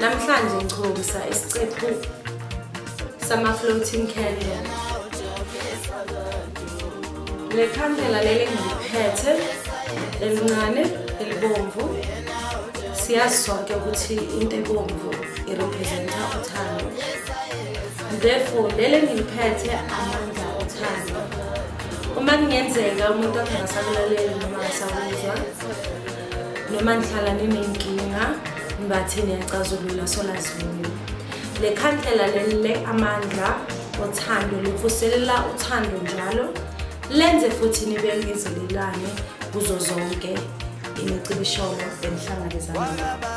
Namhlanje ngikhombisa isiqephu sama-floating candle. Le khandela leli ngiliphethe elincane elibomvu siyazi sonke ukuthi into ebomvu irepresenta uthando therefore lele ngiliphethe amandla othando uma kungenzeka umuntu akhe ngasakulaleli noma ngasakuzwa noma nihlala ninenkinga nibathe niyacazulula solazulu le khandlela lelile amandla othando livuselela uthando njalo lenze futhi nibekezelelane kuzo zonke imicibisholo enihlangabezana nayo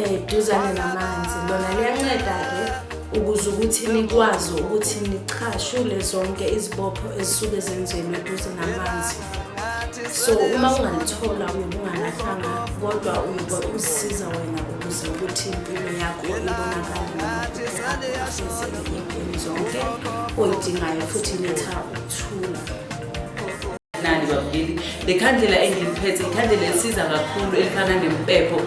eduzane namanzi lona liyanceda-ke ukuze ukuthi nikwazi ukuthi nichashule zonke izibopho ezisuke zenzelwe eduze namanzi so uma ungalithola uyobe ungalahlanga kodwa uyobe uzisiza wena ukuze ukuthi impilo yakho ibonakale zonke oyidingayo futhi letha ukuthula nani babukeli le khandlela engiliphethe ikhandlela elisiza kakhulu elifana nempepho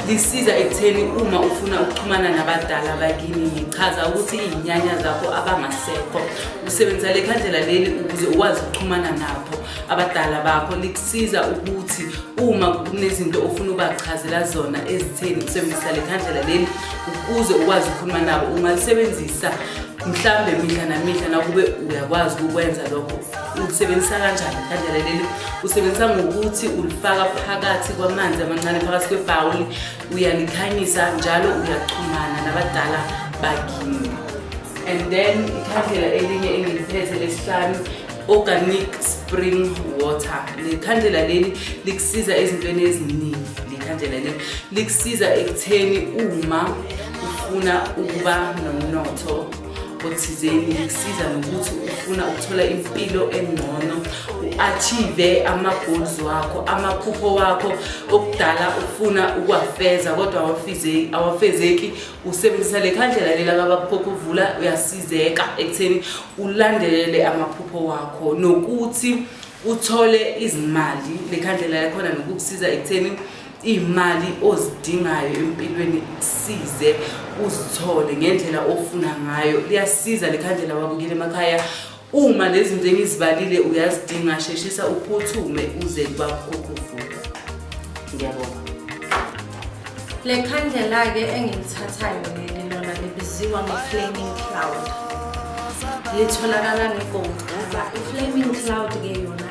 lisiza ekutheni uma ufuna ukuxhumana nabadala bakini ngichaza ukuthi iy'nyanya zakho abangasekho usebenzisa le khandlela leli ukuze ukwazi ukuxhumana nabo abadala bakho likusiza ukuthi uma kunezinto ofuna ubachazela zona ezitheni usebenzisa le khandlela leli ukuze ukwazi ukukhuluma nabo ungalisebenzisa mhlawumbe mihla namihla nakube uyakwazi ukukwenza lokho ukusebenzisa kanjani ikhadlela leli usebenzisa ngokuthi ulifaka phakathi kwamanzi amancane phakathi kwebhawuli uyalikhanyisa njalo uyachumana nabadala bakini and then ikhandlela elinye engiliphethe lesihlanu organic spring water lekhandlela leli likusiza ezintweni eziningi lekhandlela leli likusiza ekutheni uma ufuna ukuba nomnotho othizeni kusiza nokuthi ufuna ukuthola impilo engcono u-achieve ama-goals wakho amaphupho wakho okudala ufuna ukuwafeza kodwa awafezeki usebenzisa le khandlela lela kabakuphokho uvula uyasizeka ekutheni ulandelele amaphupho wakho nokuthi uthole izimali le khandlela yakhona nokukusiza ekutheni iy'mali ozidingayo empilweni size uzithole ngendlela ofuna ngayo liyasiza likhandlela wabukile emakhaya uma lezi zinto engizibalile uyazidinga sheshisa uphuthume uze kubakhokuvuka ngiyabonga le khandlela-ke engilithathayo leli lona libiziwa nge-flaming cloud litholakala ngegold cover i-flaming cloud-ke yona